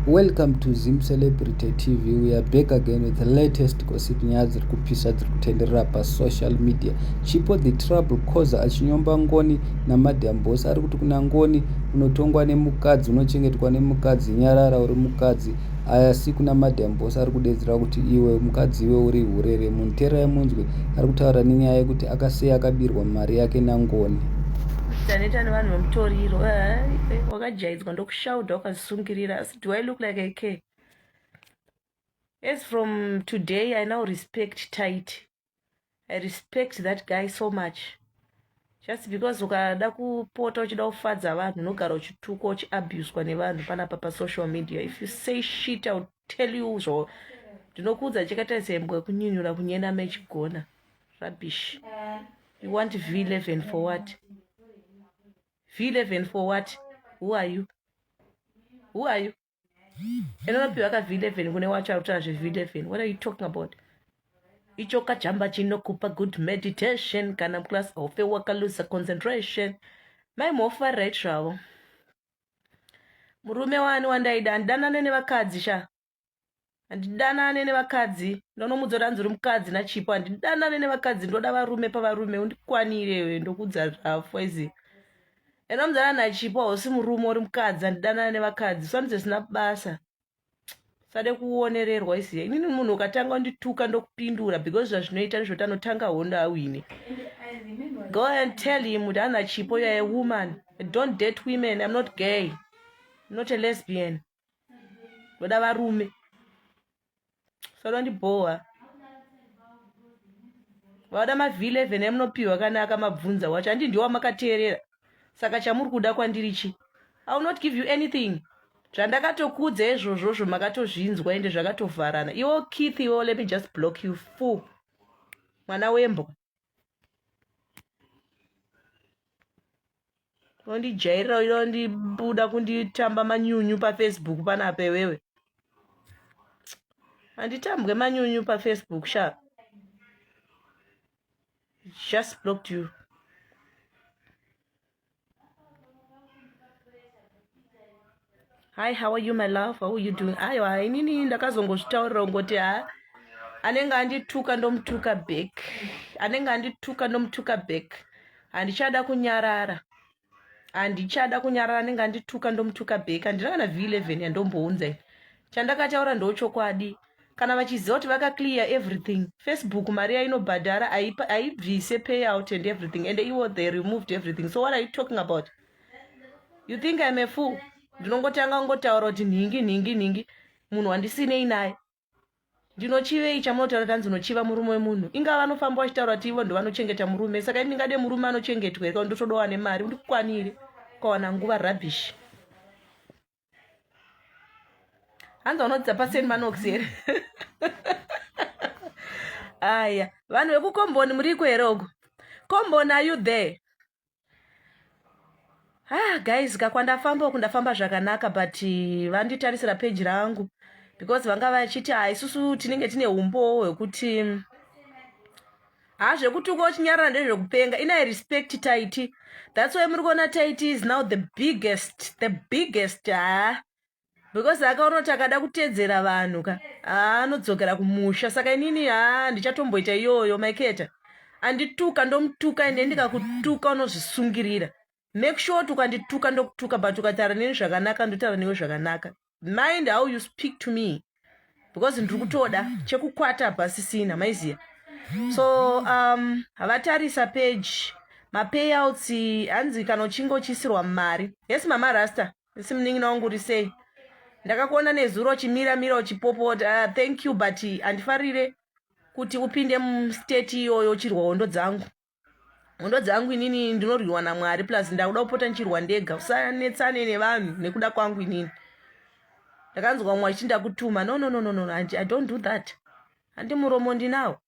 Welcome to Zim Celebrity TV. We are back again with the latest gossip nyaya dziri kupisa dziri kutenderera pasocial media. Chipo the trouble causer achinyomba Ngoni naMadam Boss ari kuti kuna Ngoni unotongwa nemukadzi unochengetwa nemukadzi nyarara uri mukadzi asi kuna Madam Boss ari kudedzera kuti iwe mukadzi iwe uri hure remunhu teerai munzwe ari kutaura nenyaya yekuti akasei akabirwa mari yake naNgoni. Taneta nevanhu vemutoriro eh, wakajaidzwa ndoku shoulder wakazvisungirira asi do i look like i care as from today i now respect tight i respect that guy so much just because ukada kupota uchida kufadza vanhu unogara uchitukwa uchiabuswa nevanhu panapa pasocial media if you say shit ill tell you zvo ndinokuudza chikaita sembwa kunyunyura kunyena mechigona rubbish you want v11 for what v11 for what who are you who are you inonopiwa ka v11 kune wacho arikutora zve v11 what are you talking about icho kajamba chinokupa good meditation kana class hofe wakalusa concentration mai mofa right zvavo murume wani wandaida andidanane nevakadzi sha handidanane nevakadzi ndonomudza kuti hanzi uri mukadzi nachipo handidanane nevakadzi ndoda varume pavarume undikwanire ndokudza zvafo izi and omzana nachipo hausi murume uri mukadzi handidanane nevakadzi swanzi zvisina basa sade kuonererwa isiye inini munhu ukatanga undituka ndokupindura because zvazvinoita ndizvo tanotanga hondo awine go and tell him kuti ana chipo youare a woman don't date women im not gay not a lesbian ndoda varume sanondibhowa vauda mavhi 11 emunopiwa kana akamabvunza wacho handi ndiwa makateerera saka chamuri kuda kwandiri chi i will not give you anything zvandakatokudza izvozvozvo makatozvinzwa ende zvakatovharana iwo keith iwo let me just block you full mwana wembwa unondijairira uyo unondibuda kunditamba manyunyu pafacebook panapa iwewe handitambwe manyunyu pafacebook sha just blocked you hi how are you my love how are you doing aiwa inini ndakazongozvitaurira ungoti ha anenge andituka ndomutuka back anenge andituka ndomutuka back handichada kunyarara handichada kunyarara anenge andituka ndomutuka back handina kana v11 yandombounza chandakataura ndochokwadi kana vachiziva kuti vakaclear everything facebook mari yainobhadhara haipa- haibvise payout and everything and iwo they removed everything so what are you talking about you think im a fool ndinongotanga kungotaura kuti nhingi nhingi nhingi munhu wandisinei naye ndinochivei chamunotaura kuti hanzi unochiva murume wemunhu ingava vanofamba vachitaura kuti ivo ndovanochengeta murume saka imi ndingade murume anochengetwa here kana ndotodowa nemari ndikukwanire ukawana nguva rubbish hanzi vanodzidza pasen manox here aya vanhu vekukomboni muriko here uko komboni are you there ah guys ka kwandafamba uku ndafamba zvakanaka but eh, vanditarisira peji rangu because vanga vachiti ah, isusu tinenge tine umbowo hwekuti haa zvekutuka uchinyarara ndezvekupenga inai respect taiti thats why muri kuona taiti is now the biggest the biggest haa because akaona kuti akada kutedzera vanhu ka haa anodzokera kumusha saka inini haa ndichatomboita iyoyo maiketa andituka ndomutuka ende ndikakutuka unozvisungirira make sure kuti ukandituka ndokutuka but ukataura neni zvakanaka ndotaura newe zvakanaka mind how you speak to me because ndiri kutoda chekukwata pasisina maiziya so um havatarisa page mapayouts hanzi kana uchinge uchisirwa mari yes mama rasta isi munin'ina wangu uri sei ndakakuona nezuro uchimira mira uchipopota uh, thank you but handifarire kuti upinde mustate iyoyo uchirwa hondo dzangu hondo dzangu inini ndinorwiwa namwari plus ndakuda kupota ndichirwa ndega usanetsane nevanhu nekuda kwangu inini ndakanzwa mumwe achiti ndakutuma no no no no no i don't do that handi muromo ndinawo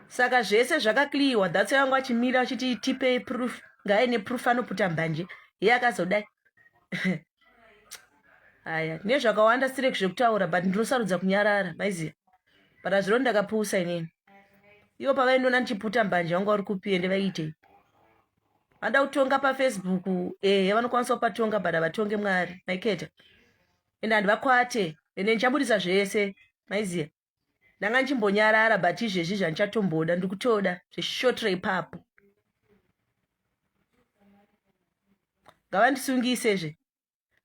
saka zvese zvakakliyiwa dhatso yangu achimira achiti tipei proof ngaaine proof anoputa mbanje iye akazodai haya nezvakawanda sirek zvekutaura but ndinosarudza kunyarara maiziva but azvino ndakapusa inini ivo pavaindiona ndichiputa mbanje vanga vari kupi ende vaiitei vanoda kutonga pafacebook ehe eh, vanokwanisa kupatonga but havatonge mwari maiketa ende handi vakwate ende ndichaburitsa zvese maiziva ndanga ndichimbonyarara but izvezvi zvandichatomboda ndiri kutoda zveshotra ipapo ngavandisungise zve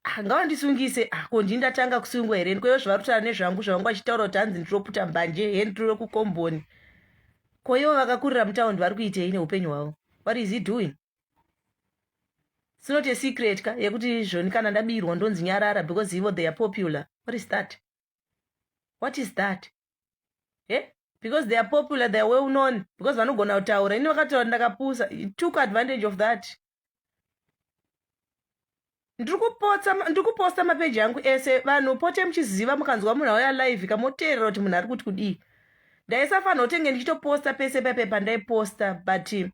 ah, ngavandisungise ah, ko ndii ndatanga kusungwa here ndikoyo zvavari kutaura nezvangu zvavangu vachitaura kuti hanzi ndinoputa mbanje he ndiro kukomboni ko ivo vakakurira mutaundi vari kuitei neupenyu hwavo what is he doing sinoti asecret ka yekuti zvoni kana ndabirwa ndonzi nyarara because ivo they are popular what is that what is that he eh? because they are popular they are well known because vanogona kutaura ini vakataura ndakapusa took advantage of that ndiri kuposta mapeji angu ese vanhu pote muchiziva mukanzwa munhu auya live kamoteerera kuti munhu ari kuti kudii ndaisafanira kutenge ndichitoposta pese paipe pandaiposta but e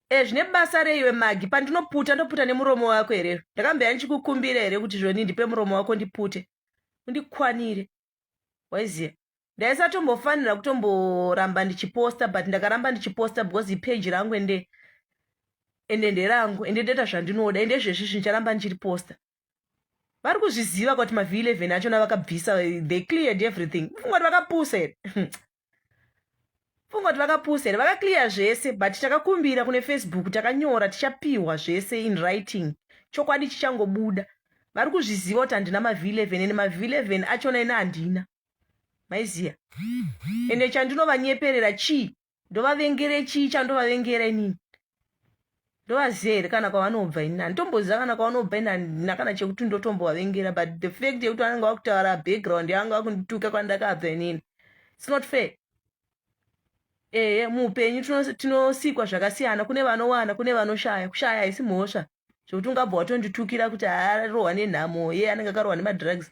eh, zvine basa reiwe magi pandinoputa ndoputa nemuromo wako here ndakambeya ndichikukumbira here kuti zvoni ndipe muromo wako ndipute undikwanire waiziva ndaisatombofanira kutomboramba ndichiposta but ndakaramba ndichiposta because ipeji rangu ende ende nderangu ende ndoita zvandinoda ende zvezvizvi ndicharamba ndichiriposta vari kuzviziva kuti mav11 achona vakabvisa they cleared everything fungati vakapusa here funga kuti vakapusa here vakaclear zvese but takakumbira kune facebook takanyora tichapihwa zvese in writing chokwadi chichangobuda vari kuzviziva kuti handina mavhi 11 ende mavhi 11 achona ina handina maiziya ende chandinovanyeperera chii ndovavengere chii chandovavengera inini ndovaziva here kana kwavanobva ini handitomboziva kana kwavanobva ini handina kana chekuti ndotombovavengera but the fact yekuti vanenge vakutaura background yavanga vakundituka kwandakabva inini its not fair ehe muupenyu tinosikwa zvakasiyana kune vanowana kune vanoshaya kushaya haisi mhosva zvekuti ungabva watonditukira kuti arohwa nenhamo ye anenge akarohwa nemadrugs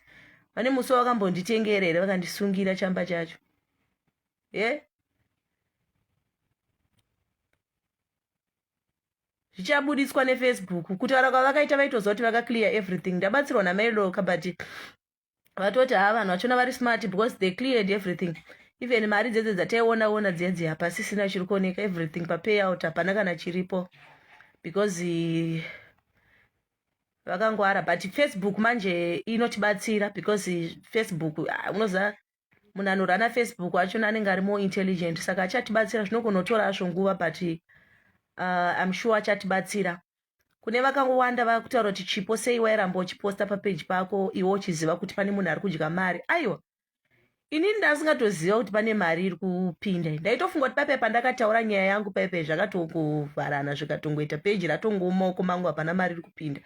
vane musi wakambonditengera here vakandisungira chamba chacho ye zvichabuditswa nefacebook kutaura kwavakaita vaitoziva kuti vakaclear everything ndabatsirwa namailorka but vatoti haa vanhu vachona vari smart because they cleared everything even mari dzedze dzataiona ona dziya dziya hapasisina chiri kuoneka everything papayout hapana kana chiripo because eh, vakangwara but facebook manje inotibatsira because eh, facebook ah, unoziva munhu anorana facebook achona anenge ari more intelligent saka achatibatsira zvinogona kutora azvo nguva but uh, im sure achatibatsira kune vakawanda vakutaura kuti chipo sei wairamba uchiposta papeji pako iwe uchiziva kuti pane munhu ari kudya mari aiwa inini ndasingatoziva kuti pane mari iri kupinda ndaitofunga kuti papepa ndakataura nyaya yangu paipe zvakatongovharana zvikatongoita peji ratongooma uko mangu hapana mari iri kupinda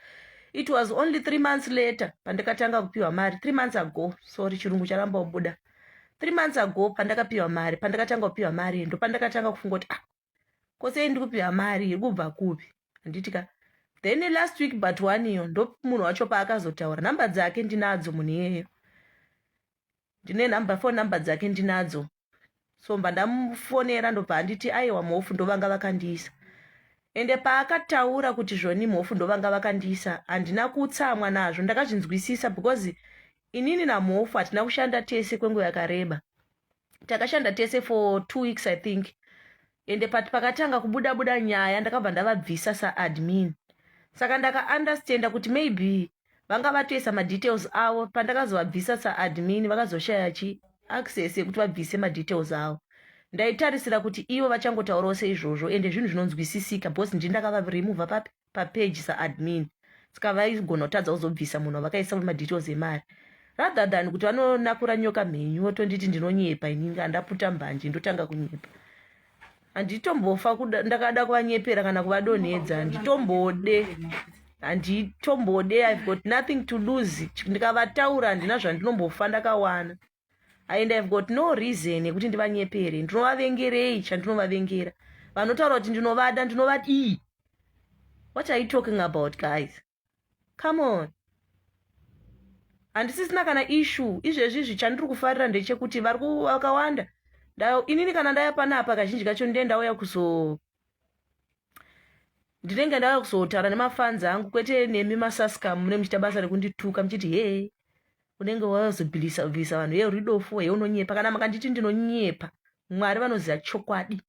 it was only three months later pandakatanga kupiwa mari three months ago sorry chirungu charamba kubuda three months ago pandakapiwa mari pandakatanga kupiwa mari ndo pandakatanga kufunga kuti ah ko sei ndi kupiwa mari iri kubva kupi handiti ka then last week but one iyo ndo munhu wacho paakazotaura nhamba dzake ndinadzo munhu iyeyo ndine number phone number dzake ndinadzo so mba ndamufonera ndobva anditi aiwa mhofu ndovanga vakandiisa ende paakataura kuti zvoni mhofu ndovanga vakandiisa handina kutsamwa nazvo ndakazvinzwisisa because inini namhofu hatina kushanda tese kwenguva yakareba takashanda tese for two weeks i think ende pati pakatanga kubuda buda nyaya ndakabva ndavabvisa saadmin saka ndakaunderstanda kuti maybe vanga vatoisa madetails avo pandakazovabvisa saadmin vakazoshaya chi access yekuti vabvise madetails avo ndaitarisira kuti ivo vachangotaurawo seizvozvo ende zvinhu zvinonzwisisika because ndindakavaremover papi papage saadmin ska vaigona kutadza kuzobvisa munhu wavakaisa madetails emari rather than kuti vanonakura nyoka mhenyu votonditi ndinonyepa ininga handaputa mbanje ndotanga kunyepa handitombofa ndakada kuvanyepera kana kuvadonhedza handitombode handitombode ive got nothing to lose ndikavataura handina zvandinombofa ndakawana and ihave got no reason yekuti ndivanyepere ndinovavengerei chandinovavengera vanotaura kuti ndinovada ndinovadii what are you talking about guys come on handisisina kana issue izvezvi izvi chandiri kufarira ndechekuti vari vakawanda inini kana ndaya panapa kazhinji kacho ndee ndauya kuzo ndinenge ndava kuzotaura nemafanzi angu kwete nemi masaska munenge muchiita basa rekundituka muchiti he unenge wazobvisabvisa vanhu ye ridofo he unonyepa kana makanditi ndinonyepa mwari vanoziva chokwadi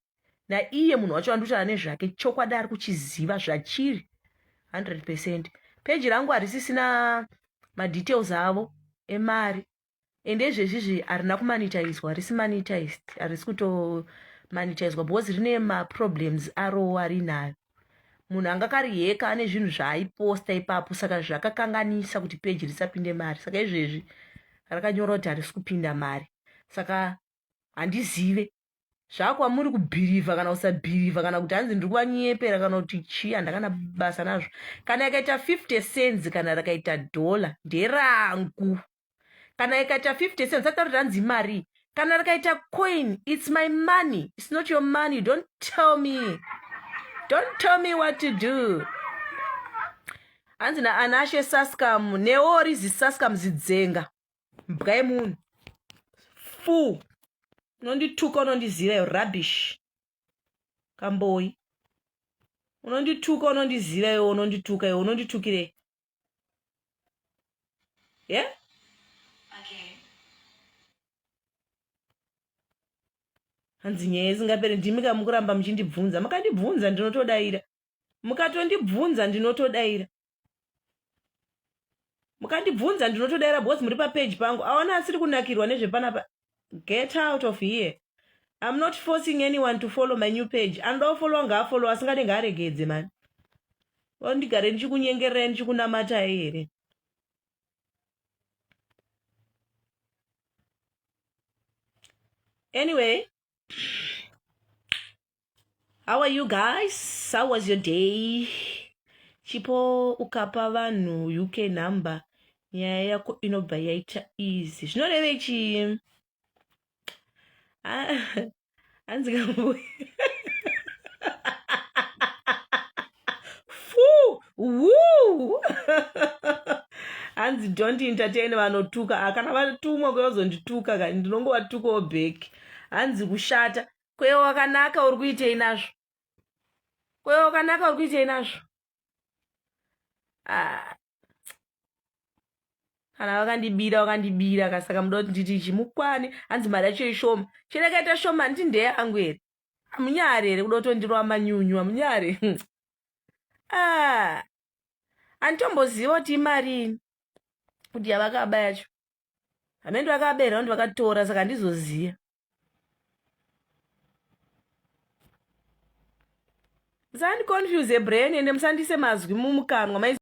naiye munhu wacho anditaura nezvake chokwadi ari kuchiziva zvachiri 100 percent peji rangu harisisina madetails avo emari ende izvezvizvi harina kumanitaizwa harisi manitized harisi kutomanitaizwa because rine maproblems arowo arinayo munhu anga kariheka ane zvinhu zvaaiposta ipapo saka zvakakanganisa kuti peji risapinde mari saka izvezvi rakanyorwa kuti harisi kupinda mari saka handizive zvakwamuri kubhirivha kana kusabhirivha kana kuti hanzi ndiri kuvanyepera kana kuti chii handakana basa nazvo kana ikaita 50 cents kana rakaita dhola nderangu kana ikaita 50 cents atauri ranzi imari kana rikaita coin its my money its not your money don't tell me don't tell me what to do hanzi naanashe sascam neori zisascam zidzenga mbwa yemunhu fuu unondituka unondiziva yo rubbish kamboyi unondituka unondiziva yo unondituka yo unonditukirei ye yeah? hanzi nyaya isingaperi ndimi ka mukuramba muchindibvunza mukandibvunza ndinotodaira mukatondibvunza ndinotodaira mukandibvunza ndinotodaira because muri papage pangu aona asiri kunakirwa nezvepanapa get out of here im not forcing anyone to follow my new page anoda kufollowa ngaafollow asingade ngaaregedze mani ondigare ndichikunyengererai ndichikunamatai here anyway How are you guys? How was your day? Chipo ukapa vanhu UK number nyaya yako inobva yaita easy. Zvinorevei chii? Ah, hanzi kamboya. Fuu, wuu. hanzi don't entertain vanotuka Ah, kana vatumwa kweva kuzondituka kani ndinongovatukawo back hanzi kushata kweva wakanaka uri kuitei nazvo kweva wakanaka uri kuitei nazvo Ah, kana vakandibira vakandibira ka saka muda kuti nditi chimukwane hanzi mari yacho ishoma chero yakaita shoma handiti ndeyangu here amunyari here kuda kutondirova manyunyu amunyari hmm. ah. anditomboziva kuti imarini kuti yavakaba yacho hamene ndivakabaira kuti vakatora saka handizoziva musandiconfuse brain ende musandise mazwi mumukanwa